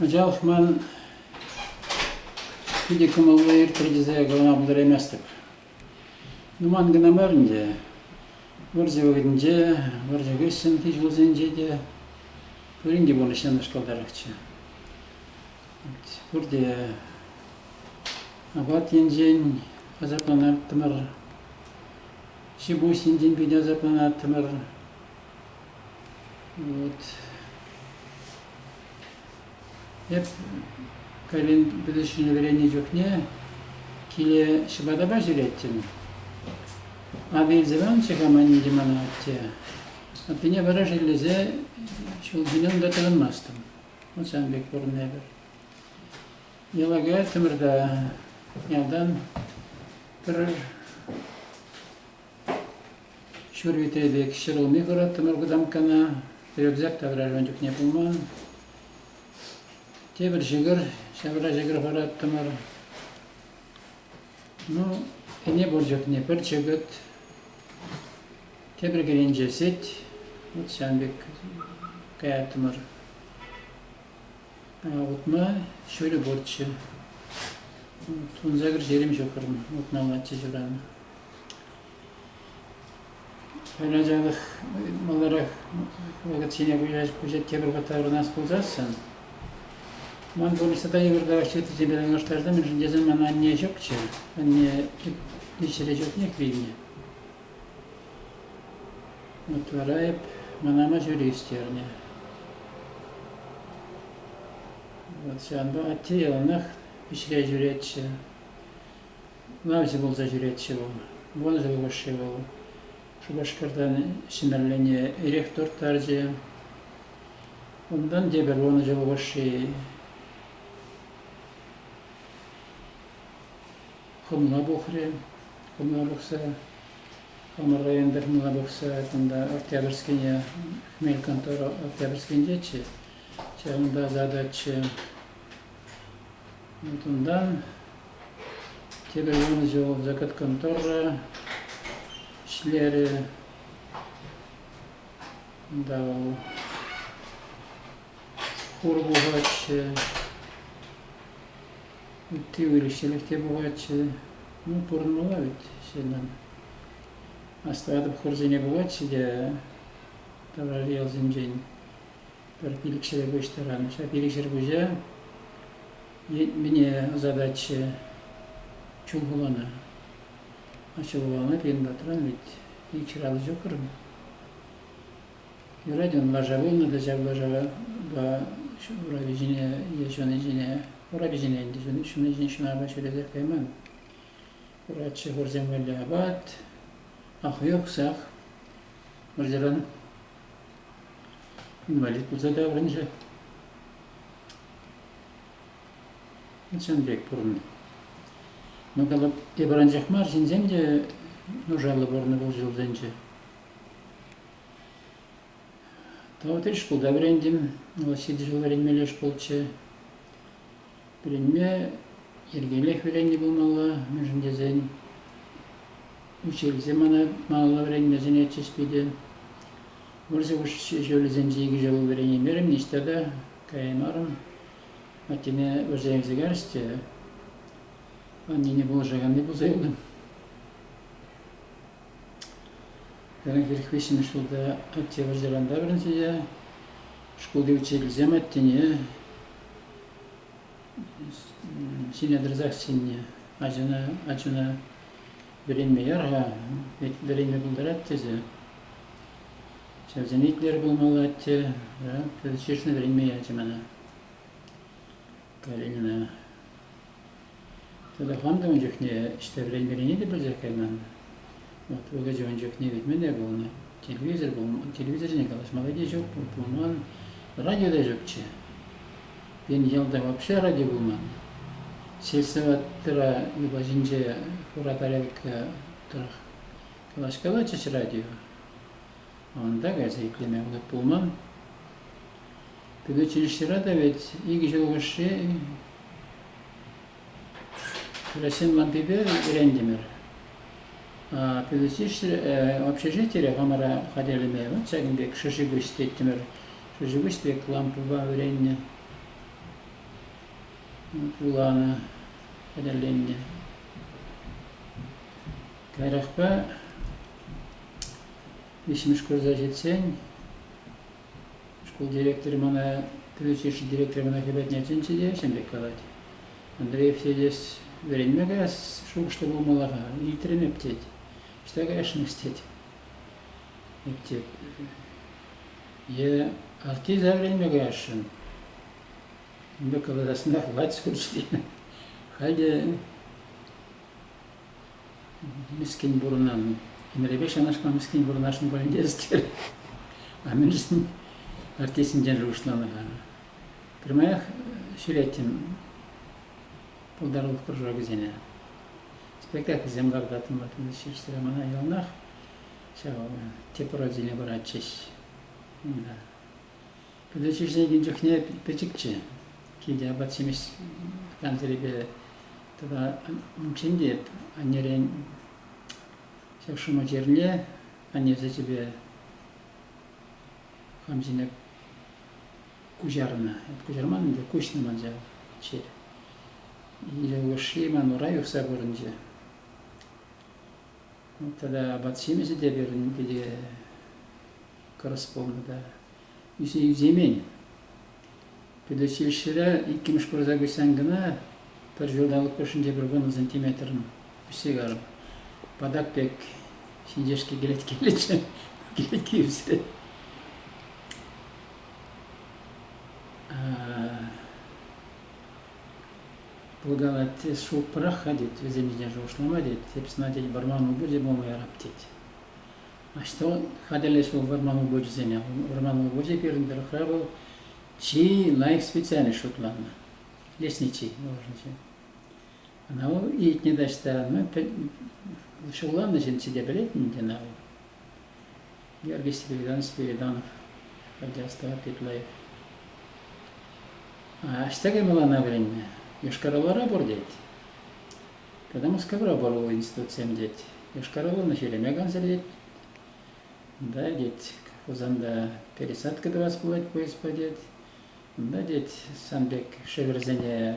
Анчах ман питӗ кӑмӑллӑ иртрӗ тесе калама пултараймастӑп. Нуман кӑна мар ӗнтӗ. Вӑрҫӑ вӑхӑтӗнче, вӑрҫӑ хыҫҫӑнхи ҫулсенче те пурин те пурнӑҫ янӑшкӑлтарахчӗ. пурте апат енчен асапланаттӑмӑр, ҫипуҫ енчен питӗ асапланаттӑмӑр. Вот. Эп кайран пӗтӗҫнӗ вӗреннӗ чухне киле ҫӑпатапа ҫӳреттӗм. Атӑ илсе панчӗ-ха манне мана атте. Аттене вара шеллесе ҫул ҫине унта тӑрӑнмастӑм. ҫавӑн пек пурӑннӑ эпир. Йӑлага Тӗмӗрта ялтан пӗр ҫур вите пек ҫӗр улми хурать тымар кутамккана. Рюкзак та ун чухне пулман. Тепӗр ҫӑкӑр, ҫавра ҫӑкӑр хурать тымар. Ну, ӗне пур чухне пӗр чӗкӗт, тепӗр кӗленче сӗт. Вот ҫавӑн пек каяттӑмӑр. Утма ҫулӗ пурччӗ. Утса кӗрҫелем ҫукрӑм, утмаллаччӗ ҫуран. Ачалӑх маларах вакансине куҫать тепӗр пата вырнаҫ пулсассӑн. Ман пурнӑҫ тата йывӑртарах чухнесемпе танлаштарса, мӗншӗн тесен ман анне ҫукчӗ. Анне ҫӗре чухнех вилнӗ. Вот вара эп мана маҫури ӳстернӗ. Вот ҫавӑнпа атте яланах ӗҫре ҫӳретчӗ. Ывӑлҫӑ пулса ҫӳретчӗ вӑл. Вӑрҫӑллӑ ӑшши вӑл. Шупашкартан Ҫӗмӗрлене эрех турттарчӗ. Унтан тепӗр вӑрҫӑллӑ ӑшши хӑмла пухрӗ. Хӑмла пухса хамӑрра ентер хӑмла пухса кунта Октябрьскине хмель контора Октябрьскинчеччӗ. Ҫавӑнта задаччӗ. Вот унтан Тепӗр янӑ ҫул закаткан тӑррӑ ӗҫлерӗ. Унта вӑл хур пухатчӗ, ытти выльӑх-чӗрлӗх те пухатчӗ. Ну, пурӑнмалла вӗт ҫыннӑн. Астӑватӑп, хурсене пухатчӗ те таврари ялсенчен. пӗр пилӗк ҫӗрпуҫ тӑран. Ҫав пилӗк ҫӗрпуҫа мӗне ӑсататчӗ Чулхулана. А Чулхулана пирӗн патран ведь ик ҫӑраллӑ ҫуккӑрӑн. Юрать ун лаша пулнӑ та ҫак лашапа урапи ҫине е ҫуни ҫине урапи ҫине ӗнтӗ ҫуни ҫунапа ҫӳретех кайман. Пулатчӗ хурсемелле апат, ахуйӑхсах. Вӑрҫӑран инвалид пулса таврӑнчӗ. Чӑн пек пурӑннӑ. Ну, калап, тепӗр анчах мар, ҫынсем те нушаллӑ пурӑннӑ пул ҫулсенче. Тав тӗл шкулта вӗрентим. Вӑл ҫитӗ ҫул вӗренмелле шкулччӗ. Вӗренме йӗркеллех вӗреннӗ пулмалла, мӗншӗн тесен учительсем мана малалла вӗренме сӗнетчӗҫ питӗ. Вӑрҫӑ ҫулӗсенче икӗ ҫул вӗренеймерӗм, ниҫта та каяймарӑм. Аттене вӑрҫа илсе кайрӗҫ те аннене пулӑшаканни пулса юлнӑ. Пӗринпех виҫҫӗмӗш ҫулта Октябрьсеранта вӗренсе те шкулти учительсем аттене ҫине тӑрсах чӗннӗ. Ачана, ачана вӗренме яр-ха, вӗренме пултарать тесе. Ҫавсене итлер пулмалла, атте. Шишне вӗренме ячӗ мана. Калинина. Телефон та ун чухне ӗҫсе вӗренмеллине те пӗлсех кайман. Вӑт вулӑсӗ ун чухне кӗтмелле пулнӑ. Телевизор пулман, телевизорне калаҫмалли те ҫук, пулман. Радио та ҫукчӗ. Пирӗн ялта вообще радио пулман. Сельсоветтра юпаҫинче хура тарелка тӑрӑх калаҫкалатчӗҫ радио. Унта кайса итлеме вӑхӑт пулман. Пирӗн училищӗра та ведь икӗ ҫул хушши Россин мантипе вӗрентӗмӗр. Пирӗн училище общежитире хамӑра хатӗрлеме вот ҫакӑн пек шӑши-пуҫ теттӗмӗр. Шӑши-пуҫ пек лампӑпа вӗреннӗ, вуланӑ, хатӗрленнӗ. Каярахпа виҫҫӗмӗш курса ҫитсен шкул директорӗ мана, педучилище директорӗ мана хӗпӗртне чӗнчӗ те ҫын пек калать. Андрей Евсеевич, вӗренме каяс шухӑшлӑ пулмалла-ха, илтрӗм эп тет. Ӑҫта каясшӑнӑс тет. Эп тет, е артиста вӗренме каясшӑн. Ун пек каласассӑн та хватит скорости. Халь те Мӗскӗн пурӑнан. Ӗмӗрӗпе ҫанашма мӗскӗн пурӑнасшӑн пулин те ӗстер. А мӗншӗн артистсенчен шухӑшланӑ-ха? Пӗрмаях ҫӳреттӗм пултарулӑх кружокӗсене. Спектакльсем лартаттӑм ватӑн ҫичсӗре мана яланах ҫав тӗп роль куратчӗҫ. Пӗлӳ ҫитӗнекен чухне пӗчӗкчӗ. Килте апат-ҫимӗҫ плансерӗпе тата унччен те аннерен ҫак шӑма чирне анне сечӗпе хам ҫине куҫарнӑ. Куҫарман ӗнтӗ, куҫнӑ ман ҫав чир. Икӗ улӑшши ман ура юхса курӑнчӗ. Тата апат-ҫимӗҫӗ те пирӗн пире корреспондента ӳсне ӳсеймен. Предучилищӗре иккӗмӗш курса куҫсан кӑна пӗр ҫулталӑк хушшинче пӗр вуннӑ сантиметрӑн ӳссе карӑм. Патак пек ҫинҫешки кӗлеткеллӗччӗ, кӗлетки ӳсрӗ. Путана тес шуптӑрах-ха тет, вӗсем ҫине шухӑшлама тет, эп сана тет вӑрман упӑшӗ пулма ярап тет. А что хатӗрлӗҫ вӑл вӑрман упӑшӗсене? Вӑрман упӑшӗ пирӗн тӑрӑхра вӑл чи лайӑх специальность шутланнӑ. Лесничий должен Ӑна вӑл илтнӗ таҫта, ну, ҫулланнӑ ҫын ҫитӗ пӗлет ӗнтӗ ӑна вӑл. Яргисти переданий Спириданов, радиоставка Китлаев. А ӑҫта мылана вӗреннӗ? Йошкар-Олара пур тет. Когда Мускавра пор институтсем тет. Йошкар-Оланы ҫӳреме кансер тет. Да, тет, Хусанта пересадка тӑвас пулать поездпа тет. Да, тет, сан пек шӗвӗрсене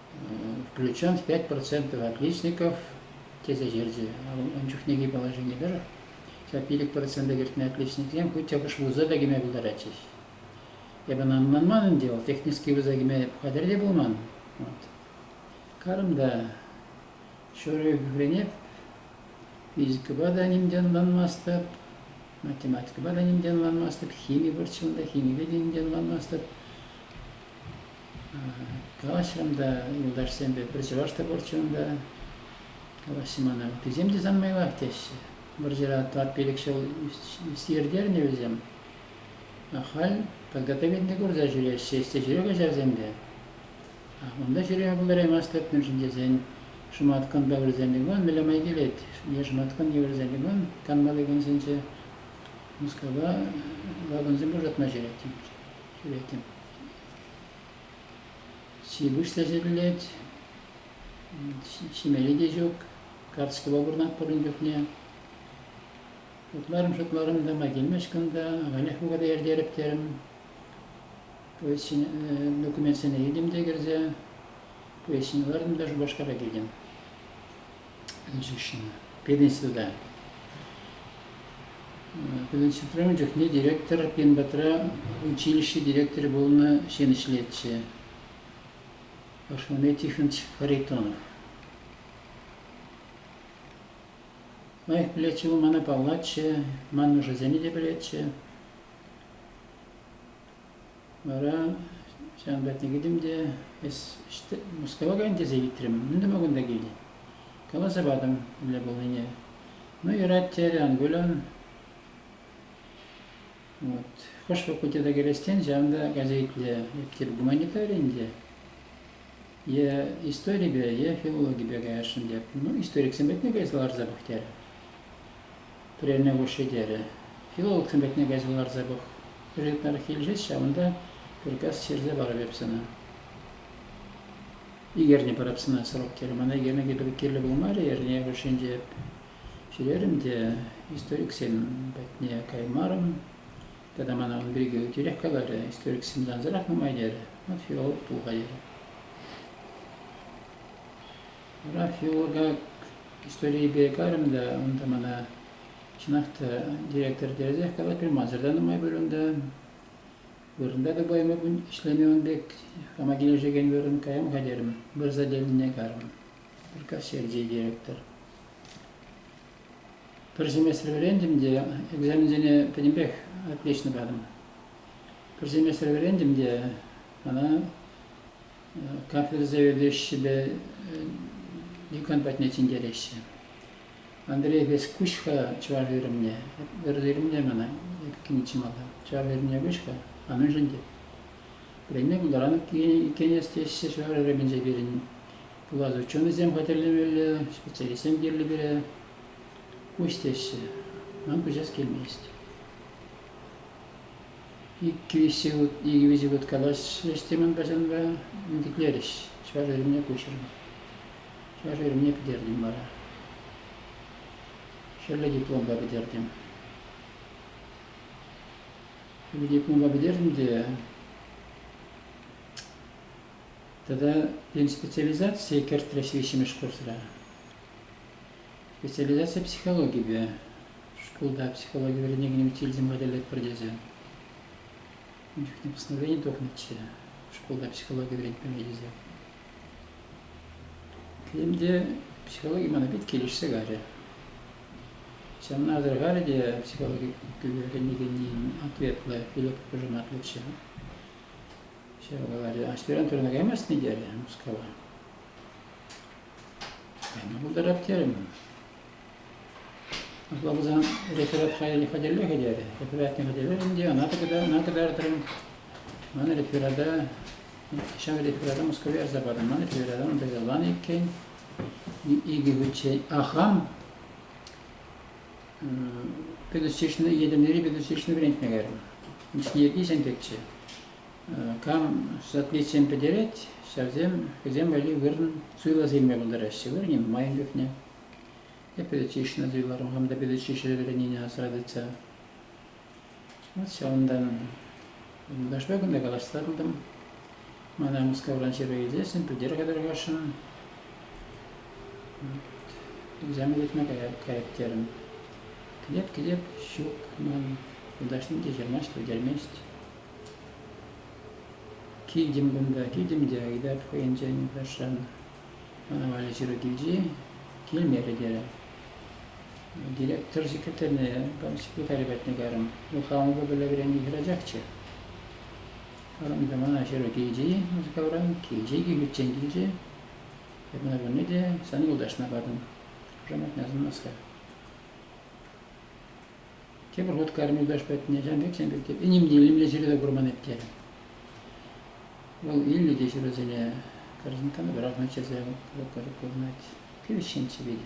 Ключан пять процентов отличников тесе ҫырчӗ ун чухнехи положени тӑрӑх. Ҫав пилӗк процента кӗртнӗ отличниксем хуть чӑкӑш вуза та кӗме пултаратчӗҫ. Эпӗ ӑнман ӗнтӗ, вӑл технический вуза кӗме хатӗр те пулман. Вот. Карӑм та ҫурӑ ӳкренеп, физикӑпа та ним те ӑнланмастӑп, математикӑпа та ним те ӑнланмастӑп, хими пурччӗ унта, химипе те ним те ӑнланмастӑп. Калаҫрӑм та, юлташсемпе, пӗр чӑваш та пурччӗ унта. Калаҫрӑм мана, ытисем те сан майлах теҫҫӗ. Вӑрҫӑра тӑват-пилӗк ҫул ирттернӗ вӗсем. Ахаль тӑлка тӗкӗннӗ курса ҫӳреҫҫӗ ӗҫсе ҫӳрек ачасем те. Унта ҫӳреме пултараймастӑп, мӗншӗн тесен шӑматкун пӗвӗрсем пекман мӗнле май килет. Е шӑматкун евӗрсем пекман канмалли кунсенче Мускава вагонсем пушатма ҫӳреттӗм. Ҫи-пуҫ та ҫӗкӗллет, ҫимелли те ҫук. Каскӑпа пурӑнатпӑр ун чухне. Утларӑм-шутларӑм тама килмест кунта, ахалех вӑхӑта иртерӗп терӗм. Поезд документсене илтӗм те кӗрсе, поезд ҫине лартӑм та Шупашкара килтӗм. ӗнсӗшнӗ пединститута. Пединститутра ун чухне директор пин патра училище директорӗ пулнӑ ҫын ӗҫлетчӗ. Основной технич Харитонов. Лайӑх пӗлетчӗ вӑл мана паллатчӗ, ман нушасене те пӗлетчӗ. Вара ҫавӑн патне кӗтӗм те Мускава кайӑн тесе ыйтрӑм. Мӗн тума кунта килнӗ? Каласа патӑм мӗнле пулнине. Ну, юрать терӗ, ан кул, ан. Вот. Хӑш факультета кӗрес тен, ҫавӑн та кайса итле. Эптир гуманитари ӗнтӗ. е историпе, е филологипе каясшӑн тет. Ну, историксем патне кайса ларса пӑх терӗ. Прерне хушши терӗ. Филологсем патне кайса ларса пӑх. Результат килсех ҫавӑнта приказ ҫырса парӑп эп сана. Икерне парап сана срок терӗ. Мана икерне кӗпер кирлӗ пулмарӗ, эрне хушшинче ҫӳрерӗм те историксен патне каймарӑм. Тата мана ун пирки тӳрех каларӗ, историксем сансӑрах нумай терӗ. Рафиол туха терӗ. Рафиол как историйӗпе карӑм та унта мана чӑнах та директор тӗрӗсех калать пулмасӑр та нумай пуль унта. Вырӑнта та пойма ӗҫлеме ун пек хама килӗшекен вырӑн каям-ха терӗм. Вырса тӗлне карӑм. Пӗр кассирчи директор. Пӗр семестр вӗрентӗм те экзаменсене пӗтӗмпех отлично патӑм. Пӗр семестр вӗрентӗм те мана кафедра заведующийӗпе декан патне тинкереҫҫӗ. Андрей Вескуҫ-ха чӑваш вырӑнне. Вӗрентӳ вырӑнне мана эпӗ килнӗччӗ малта. Чӑваш вырӑнне куҫ-ха, а мӗншӗн тет. Вӗренме пултаран иккен эс теҫҫӗ чӑваш вырӑнӗнче пирӗн. пулас ученӑйсем хатӗрлемелле, специалистсем кирлӗ пире. Куҫ теҫҫӗ. Нам куҫас килмест. Иккӗвиҫи год, икӗвиҫи год калаҫрӗҫ темӗн пачанпа, ӳкӗтлерӗҫ. Чӑваш эрне куҫрӑм. Чӑваш эрне пӗтертӗм вара. Хӗрлӗ дипломпа пӗтертӗм. Хӗрлӗ дипломпа пӗтертӗм те Тата пирӗн специализацие кӗртрӗҫ виҫҫӗмӗш курсра. Специализаци психологипе. Шкулта психологи вӗренекенӗм тильтӗм хатӗрлетпӗр тесе. Ун чухне постановлени тухнӑччӗ. Шкулта психологи вӗрентмелле тесе. Тем те психологи мана пит килӗшсе карӗ. Ҫавна асӑрхарӗ те психологи вӗренекенӗн ответлӑ, пилӗк пӑшӑрматлӑччӗ. Ҫавӑн каларӗ, аҫтаран тӑрна каймастӑн терӗ Мускава. Кайма пултарап терӗм. Апла пулсан реферат хатӗрлӗ хатӗрлӗхӗ терӗ. Рефератне хатӗрлерӗм те ӑна тӑкӑтар, ӑна тӑкартрӑм. Ман реферата, ҫав реферата Москове ярса патӑм. Ман реферата унта иккен. Икӗ хутчен ахам педучилищӗне, Етӗрнери педучилищӗне вӗрентме кайрӑм. Ӗҫне ӳсентӗччӗ. Кам соответсем пӗтерет, ҫавсем хӑйсем валли вырӑн суйласа илме пултараҫҫӗ. Вырӑнӗ нумайӑн чухне. Эп педучилищӗне суйларӑм, хам та педучилищӗре вӗреннине асра тытса. Вот ҫавӑнта юлташпа кунта калаҫса тӑртӑм. Мана Мускавран ҫыру илсен пӗлтерӗхе тӑрӑхасшӑн. Экзамен лекме каять, каять терӗм. Кӗтет, кӗтет, ҫук, ман юлташсем те ҫырмасть, пӗлтермест. Килтӗм кунта, килтӗм те ыйтать хӑйӗнчен юлташран. Мана Валя ҫыру килчӗ-и? Килмерӗ терӗ. Директор секретарьне секретарь патне кайрӑм. Ну, хамӑн купеле вӗреннӗ хӗрачахчӗ. Арӑм та мана ҫыру килчӗ-и Мускавра, килчӗ икӗ хутчен килчӗ. Эп ӑна пурне те сан юлташна патӑм. Хушаматне асӑнмас-ха. Тепӗр хут кайрӑм юлташ патне, ҫавӑн пек, ҫавӑн пек тетӗп. Ним те илемлӗ ҫӗре курман иккен. Вӑл илнӗ те ҫырусене. Корзинкана пӑрах мӗччесе курӑнать. Кивӗҫҫинччӗ питӗ.